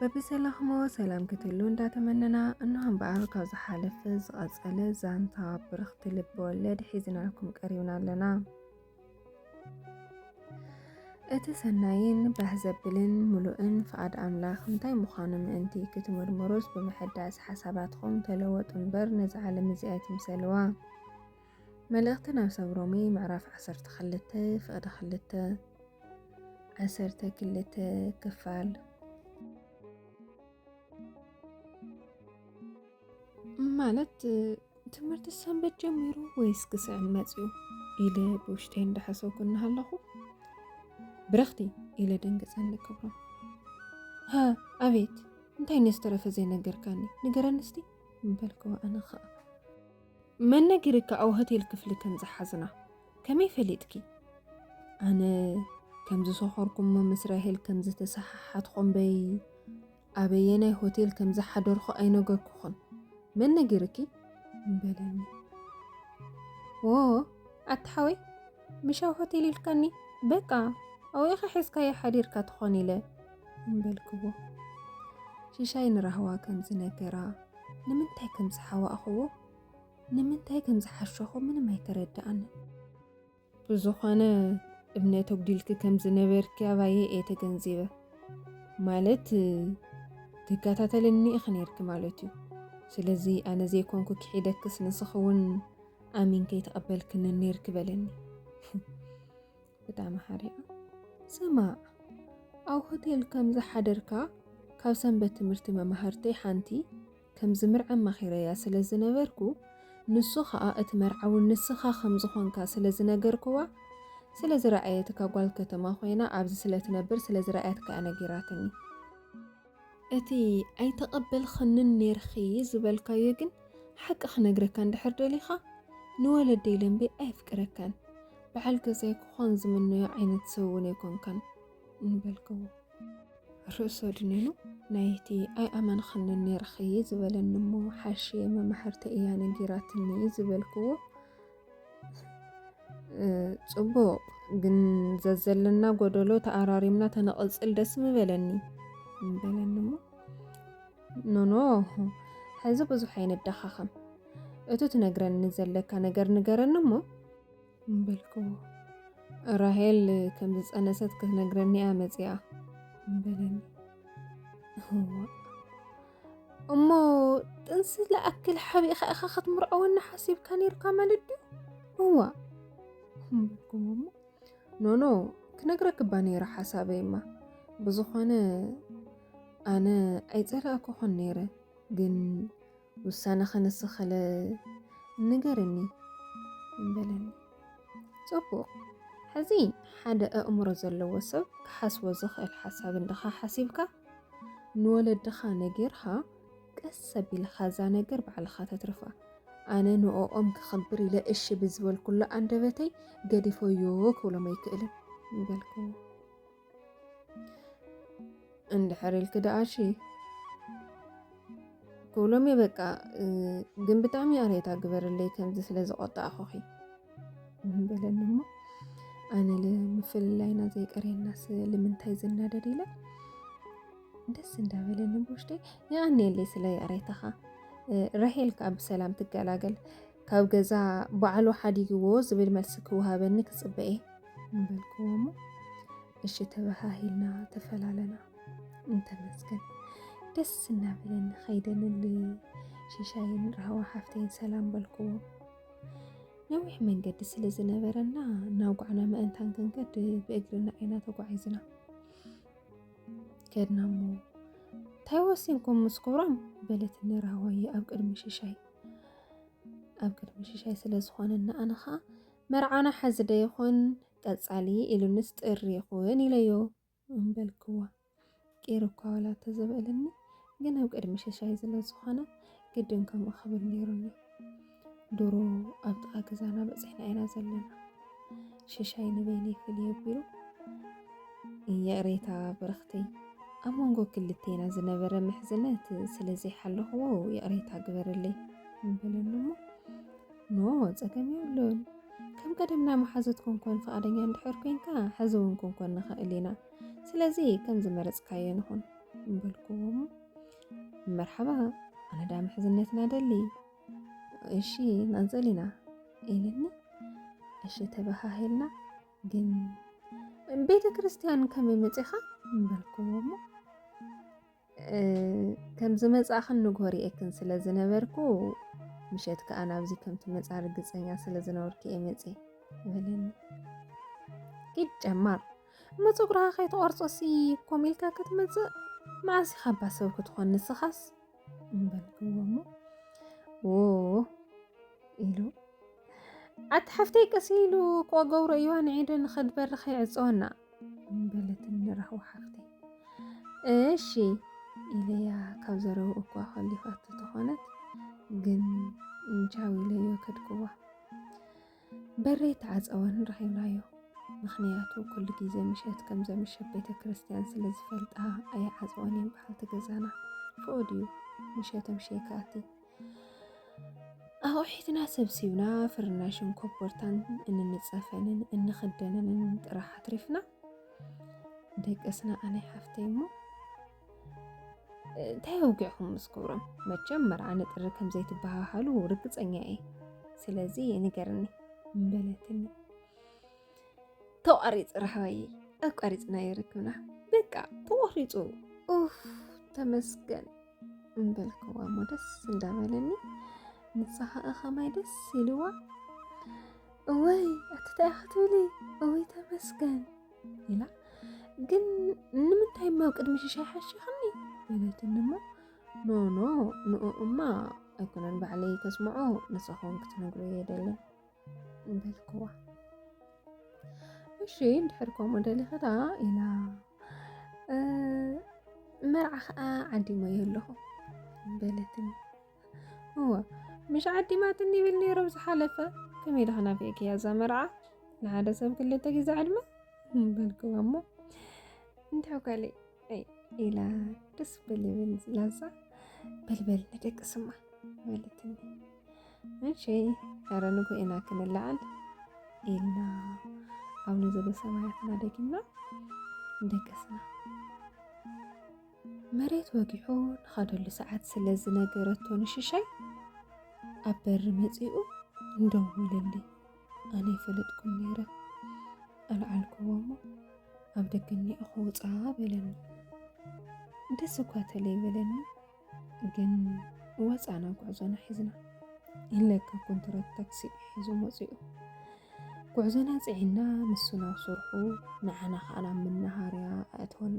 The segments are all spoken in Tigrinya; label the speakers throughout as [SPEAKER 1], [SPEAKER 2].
[SPEAKER 1] በብዘላኽሞ ሰላም ክትሉ እንዳተመነና እነሆ እምበኣር ካብ ዝሓለፈ ዝቐጸለ ዛንታ ብርኽቲ ልቢ ወለድ ሒዝናልኩም ቀሪብና ኣለና። እቲ ሰናይን ባህ ዘብልን ምሉእን ፍቓድ ኣምላኽ እንታይ ምዃኑ ምእንቲ ክትምርምሩስ ብምሕዳስ ሓሳባትኹም ተለወጡ እምበር ነዚ ዓለም እዚኣ ኣይትምሰልዋ። መልእኽቲ ናብ ሰብ ሮሜ ምዕራፍ ዓሰርተ ክልተ ፍቕዲ ክልተ ዓሰርተ ክልተ ክፋል ማለት ትምህርቲ ሰንበት ጀሚሩ ወይስ ክስዕን መፅኡ ኢለ ብውሽተይ እንዳሓሰብኩ እናሃለኹ ብረኽቲ ኢለ ደንገፀ ንክብሮ ሃ ኣቤት እንታይ ነስተረፈ ዘይነገርካኒ ንገረኒ እስቲ ምበልክዎ ኣነ ከዓ መን ነጊርካ ኣብ ሆቴል ክፍሊ ከም ዝሓዝና ከመይ ፈሊጥኪ? ኣነ ከም ዝሰኾርኩሞ ምስ ራሄል ከም ዝተሰሓሓትኩ እምበይ ኣበየናይ ሆቴል ከም ዝሓደርኩ ኣይነገርኩኹን። መን ነጊርኪ? በለኒ። ዎ ኣቲ ሓወይ ምሽ ኣብ ሆቴል ኢልካኒ በቃ ኣብኡ ኢኻ ሒዝካዮ ሓዲርካ ትኾን ኢለ እምበልክዎ ሽሻይ ንራህዋ ከም ዝነገራ ንምንታይ ከም ዝሓዋእኽዎ ንምንታይ ከም ዝሓሸኹ ምንም ኣይተረድኣንን። ብዝኾነ እምነት ኣጉዲልኪ ከም ዝነበርኪ ኣባየ እየ ተገንዚበ። ማለት ትከታተልኒ ኢኺ ነይርኪ ማለት እዩ። ስለዚ ኣነ ዘይኮንኩ ክሒደክስ ንስኺ እውን ኣሚን ከይተቐበልክኒ ነይርኪ በለኒ። እታ መሓሪኣ፣ ስማዕ፣ ኣብ ሆቴል ከም ዝሓደርካ ካብ ሰንበት ትምህርቲ መማህርተይ ሓንቲ ከም ዝምርዐ ኣማኺረያ ስለ ዝነበርኩ፣ ንሱ ኸኣ እቲ መርዓዊ ንስኻ ከም ዝኾንካ ስለ ዝነገርኩዋ፣ ስለ ዝረኣየትካ ጓል ከተማ ኮይና ኣብዚ ስለ ትነብር ስለ ዝረኣያትካ'ያ ነጊራትኒ። እቲ ኣይተቐበልኽንን ኔርኺ ዝበልካዮ ግን ሓቂ ክነግረካ እንድሕር ደሊኻ ንወለደይ ለምበይ ኣየፍቅረካን በዓል ገዛይ ክኾን ዝምነዮ ዓይነት ሰብ እውን ኣይኮንካን እንበልክዎ ርእሶ ድኒኑ ናይቲ ኣይኣመንኽንን ኔርኺ ዝበለኒ እሞ ሓሽየ መማሕርተይ እያ ነጊራትኒ ዝበልክዎ ጽቡቕ ግን ዘዘለና ጎደሎ ተኣራሪምና ተነቕጽል ደስ ምበለኒ ምበለኒ እሞ ኖኖ ሕዚ ብዙሕ ኣይነዳኻኸም እቱ ትነግረኒ ዘለካ ነገር ንገረኒ እሞ ምበልክዎ ራሄል ከም ዝፀነሰት ክትነግረኒ እያ መፂኣ ምበለኒ እሞ ጥንሲ ለኣክል ሓቢእኻ ኢኻ ክትምርዐወኒ ሓሲብካ ነይርካ ማለት ድዩ እዋ በልኩም እሞ ኖኖ ክነግረክባ ነይረ ሓሳበይማ ብዝኾነ ኣነ ኣይፀላእኩኹን ነይረ ግን ውሳነ ከነስኸለ ንገርኒ በለኒ ፅቡቕ ሕዚ ሓደ ኣእምሮ ዘለዎ ሰብ ክሓስቦ ዝኽእል ሓሳብ እንድኻ ሓሲብካ ንወለድኻ ነጊርኻ ቀስ ኣቢልኻ እዛ ነገር ባዕልኻ ተትርፋ። ኣነ ንኦኦም ክኽብር ኢለ እሺ ብዝበልኩሉ ኣንደበተይ ገዲፎዮ ክብሎም ኣይክእልን በልክዎ። እንድሕር ኢልኪ ደኣ እሺ ክብሎም እየ በቃ ግን ብጣዕሚ ኣርየታ ግበርለይ ከምዚ ስለ ዝቆጣዕኹኺ በለኒ እሞ ኣነ ንምፍልላይና ዘይቀርየናስ ልምንታይ ዝናደድ ኢለ ደስ እንዳበለኒ ብውሽጢ የቀንየለይ ስለ ይቕሬታኻ ራሄል ከዓ ብሰላም ትገላገል ካብ ገዛ በዓሉ ሓዲግዎ ዝብል መልሲ ክወሃበኒ ክፅበ እየ በልክዎ እሞ እሺ ተበሃሂልና ተፈላለና እንተመስገን ደስ እናበለኒ ከይደንል ሽሻይን ራህዋ ሓፍተይን ሰላም በልክዎ ነዊሕ መንገዲ ስለ ዝነበረና ናውጓዕና መእንታን ክንከድ ብእግርና ኢና ተጓዒዝና ከድና እሞ እንታይ ወሲንኩም ምስ ክብሮም በለት ንራህዋየ ኣብ ቅድሚ ሽሻይ ኣብ ቅድሚ ሽሻይ ስለ ዝኾነ ንኣነ ኸዓ መርዓና ሓዚ ዶ ይኹን ቀፃሊ ኢሉንስ ጥሪ ይኹን ኢለዮ እምበልክዋ ቂሩ እኳ ዋላ ተዘበእልኒ ግን ኣብ ቅድሚ ሸሻይ ዝለዝኾነ ግድን ከምኡ ክብል ነይሩኒ ድሮ ኣብ ጥቓ ገዛና በፂሕና ኢና ዘለና ሸሻይ ንበይነይ ፍልይ ኣቢሉ ይቕሬታ ብርኽተይ ኣብ መንጎ ክልቴና ዝነበረ ምሕዝነት ስለ ዘይሓለኽዎ ይቕሬታ ግበርለይ ምበለኒ እሞ ኖ ጸገም የብሉን ከም ቀደምና መሓዙት ኮንኮን ፍቓደኛ እንድሕር ኮንካ ሕዚ እውን ኮንኮን ንኽእል ኢና ስለዚ ከም ዝመረጽካዮ ንኹን በልኩም መርሓባ ኣነ ዳ ምሕዝነትና ደሊ እሺ ናንጽል ኢና ኢልኒ እሺ ተበሃሂልና ግን ቤተ ክርስቲያን ከመይ መፂኻ በልኩዎ እሞ ከም ዝመጻእኽን ንግሆ ርኤክን ስለ ዝነበርኩ ምሸት ከኣ ናብዚ ከም ትመጻ ርግጸኛ ስለ ዝነበርኩ እየ መጽየ በለኒ ኢድ ጨማር እሞ ፀጉርኻ ከይተቆርፆሲ ኮም ኢልካ ክትመፅእ መዓስ ኢኻ እባ ሰብ ክትኾን ንስኻስ በልክዎ እሞ ዎ ኢሉ ኣቲ ሓፍተይ ቀስ ኢሉ ክገብሮ እዩዋ ንዒዱ ንኸድበሪ ከይዕፀወና በለትን ንራህዋ ሓፍተይ እሺ ኢለያ ካብ ዘረው እኳ ከሊፋት ተኾነት ግን እንቻው ኢለዮ ከድክዋ በረይ ተዓፀወን ረኺብናዮ ምክንያቱ ኩሉ ግዜ ምሸት ከም ዘምሸት ቤተ ክርስቲያን ስለ ዝፈልጣ ኣይዓፀወን እየን በዓልቲ ገዛና ፍቕድ እዩ ምሸቶም ሸይካቲ ኣቑሒትና ሰብሲብና ፍርናሽን ኮቦርታን እንንፀፈንን እንኽደነንን ጥራሕ ኣትሪፍና ደቀስና ኣነ ሓፍተይ እሞ እንታይ ወጊዕኹም ምስ ክብሮም መቸም መርዓ ንጥሪ ከም ዘይትበሃሃሉ ርግፀኛ እየ ስለዚ ንገርኒ በለትኒ ተቋሪፅ ራህዋይ ኣቋሪፅና ይርክብና በቃ ተቆሪፁ ኡፍ ተመስገን እምበልክዋ እሞ ደስ እንዳበለኒ ንሳኻኣ ኸማይ ደስ ኢልዋ እወይ ኣትታይ ክትብሊ እወይ ተመስገን ኢላ ግን ንምንታይ እሞ ኣብ ቅድሚ ሽሻይ ሓሽኽኒ በለትኒ እሞ ኖኖ ንኡ እማ ኣይኮነን ባዕለይ ከስምዖ ንስኹም ክትነግሩ የደለን በልክዋ እሺ እንድሕር ከምኡ ደሊኺ ደኣ ኢላ መርዓ ከዓ ዓዲሞ እየ ኣለኹ በለትኒ እወ ምሽ ዓዲማትኒ ይብል ነይሩ ዝሓለፈ ከመይ ዳኸና ፌክያ እዛ መርዓ ንሓደ ሰብ ክልተ ግዜ ዕድመ በልክዋ እሞ እንታይ ጓለይ ኢላ ደስ በልብል ላዛ በልበል ንደቂ ስማ በለትኒ እሺ ኧረ ንጉኤና ክንለዓል ኢልና ኣቡነ ዘበሰማያትና ደጊምና ደገስና መሬት ወጊሑ ንኸደሉ ሰዓት ስለ ዝነገረቶ ንሽሻይ ኣብ በሪ መፂኡ እንደወለሊ ኣነ ይፈለጥኩም ነይረ ኣልዓልክዎ እሞ ኣብ ደገ እኒኦ ክውፃ በለኒ ደስ እኳ ተለይ በለኒ ግን ወፃና ጉዕዞና ሒዝና ኢለካ ኮንትራት ታክሲ ሒዞም ወፂኡ ጉዕዞና ፅዒና ንሱ ናብ ስርሑ ንዓና ከዓ ናብ መናሃርያ ኣእተወና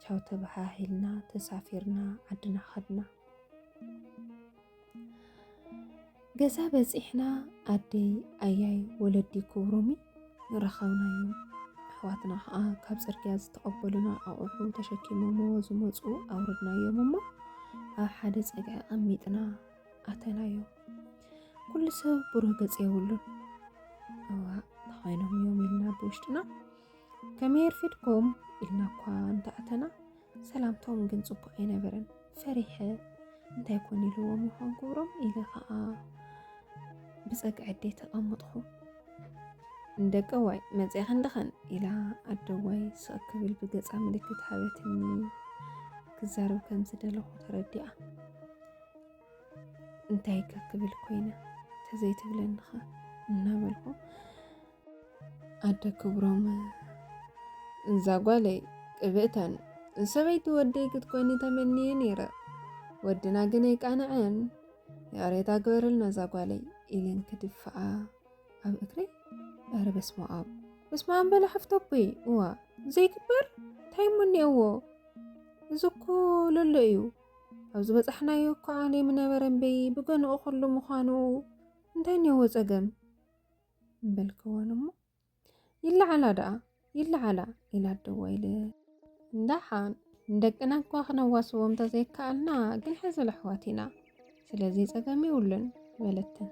[SPEAKER 1] ቻው ተበሃሂልና ተሳፊርና ዓድና ከድና ገዛ በፂሕና ኣደይ ኣያይ ወለዲ ክብሮሚ ረኸብናዮም ኣሕዋትና ከዓ ካብ ፅርግያ ዝተቐበሉና ኣቑሑ ተሸኪሞሞ ዝመፁ ኣውረድናዮም እሞ ኣብ ሓደ ፀግዒ ኣቐሚጥና ኣተናዮ ኩሉ ሰብ ብሮ ገፅ የብሉን እዋ ተኾይኖም እዮም ኢልና ብውሽጥና ከመይ ርፊድኩም ኢልና እኳ እንተኣተና ሰላምታኦም ግን ጽቡቕ ኣይነበረን። ፈሪሐ እንታይ ኮን ኢልዎም ይኾን ክብሮም ኢለ ከዓ ብጸግዒ ኣደይ ተቐምጥኹ። ደቀዋይ መጽያ ክንድኸን ኢላ ኣደዋይ ስቕ ክብል ብገጻ ምልክት ሃበትኒ ክዛረብ ከም ዝደለኹ ተረዲኣ እንታይ ከክብል ኮይነ ተዘይትብለንኻ እናበልኩ ኣደ ክብሮም እዛ ጓለይ ቅብእተን ሰበይቲ ወደይ ክትኮኒ ተመንየ ነይረ ወድና ግን ኣይቃንዐን ያሬታ ግበረልና እዛ ጓለይ ኢለን ክድፍኣ ኣብ እግሪ ኧረ በስመ ኣብ በስመ ኣብ በላ ሓፍቶቦይ እዋ ዘይግበር እንታይ እሞ እኒኦዎ እዚ እኮ ለሎ እዩ ኣብ ዝበፃሕናዮ እኮ ዓሌ ምነበረ እምበይ ብገንኡ ኩሉ ምዃኑ እንታይ እኒኦዎ ፀገም በልክወን እሞ ይለዓላ ደኣ ይለዓላ ኢላ ኣደዋ ኢለ ዳሓን ደቅና እኳ ክነዋስቦም ተዘይከኣልና ግን ሕዝል ኣሕዋት ኢና ስለዚ ጸገም የብሉን በለተን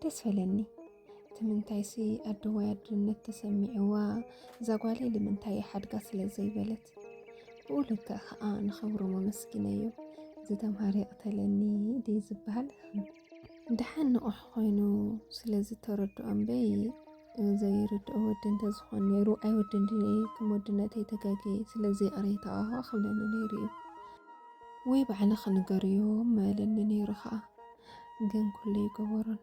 [SPEAKER 1] ደስ በለኒ ትምንታይሲ ኣደዋይ ኣድነት ተሰሚዕዋ እዛ ጓለይ ልምንታይ ሓድጋ ስለ ዘይበለት ብኡ ልክዕ ከዓ ንኸብሩ መመስኪነዮ ዝተምሃረ ይቕተለኒ ድዩ ዝበሃል ድሓን ንቑሕ ኮይኑ ስለ ዝተረድኦ እምበይ ዘይርድኦ ወዲ እንተዝኾን ነይሩ ኣይወድን ድየ ከም ወድነተይ ተጋግየ ስለዚ ይቕሬታ ክብለኒ ነይሩ እዩ ወይ ባዕለ ክንገርዮ መለኒ ነይሩ ከዓ ግን ኩሉ ይገበሮን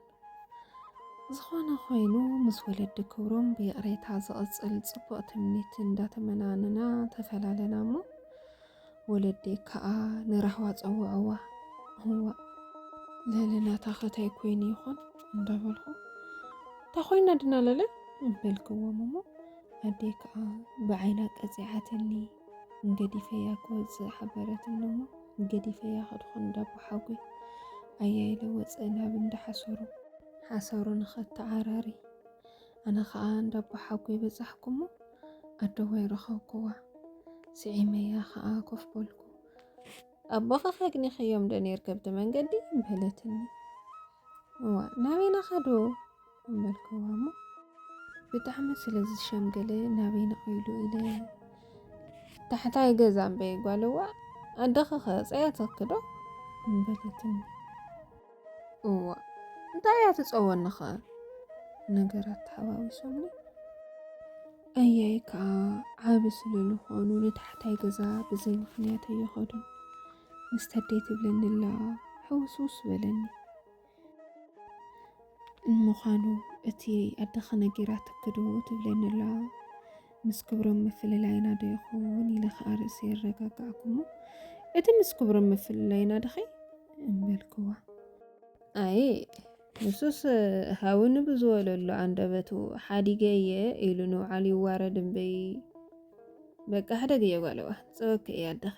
[SPEAKER 1] ዝኾነ ኮይኑ ምስ ወለዲ ክብሮም ብይቕሬታ ዝቕፅል ፅቡቕ ትምኒት እንዳተመናንና ተፈላለና እሞ ወለዲ ክኣ ንራህዋ ጸውዕዋ እዋእ ለለናታኸ ታይ ኮይኑ ይኾን እንዳበልኹ እታ ኮይና ድና ለለ በልክዎም እሞ ኣዴ ክኣ ብዓይና ቀጺዓትኒ ገዲፈያ ክወጽእ ሓበረትኒ እሞ ገዲፈያ ከድኹ እንዳቦ ሓጎይ ኣያይለ ወጸ ናብ እንዳሓሰሩ ሓሰሩ ንኸተዓራሪ ኣነ ኸኣ እንዳ ኣቦሓጎይ በጻሕኩ እሞ፣ ኣደዋይ ረኸብኩዋ። ስዒመያ ኸኣ ኮፍ በልኩ። ኣቦኻ ከግኒኸዮምዶ ኔርኪ ኣብቲ መንገዲ? በለትኒ። እዋ፣ ናበይ ኢና ኸዱ? በልኩዋ እሞ፣ ብጣዕሚ ስለ ዝሸምገለ ናበይ ነቕ ኢሉ ኢለ ታሕታይ ገዛ እምበይ ጓልዋ ኣደኺ ኸ ጸያትኪ ዶ? በለትኒ። እዋ እንታይ እያ ትፀወኒ ኸ ነገራት ተሓዋዊሶምኒ ኣያይ ከዓ ዓብ ስለዝኾኑ ንታሕታይ ገዛ ብዘይ ምክንያት ኣይኸዱን ምስተደይ ትብለኒ ኣላ ሕውስውስ በለኒ ንምዃኑ እቲ ኣደኸ ነጊራትክዶ ትብለኒ ኣላ ምስ ክብሮም ምፍልላይና ዶ ይኸውን ኢለ ከኣ ርእሰ የረጋጋዕኩሞ እቲ ምስ ክብሮም ምፍልላይና ድኸይ እምበልክዋ ኣየ ንሱስ ሃውኒ ብዝበለሉ ኣንደበቱ ሓዲገ እየ ኢሉ ንውዓሉ ይዋረድ እምበይ በቃ ሕደግ እየ ጓለዋ ፀወኪ እየ ኣደኺ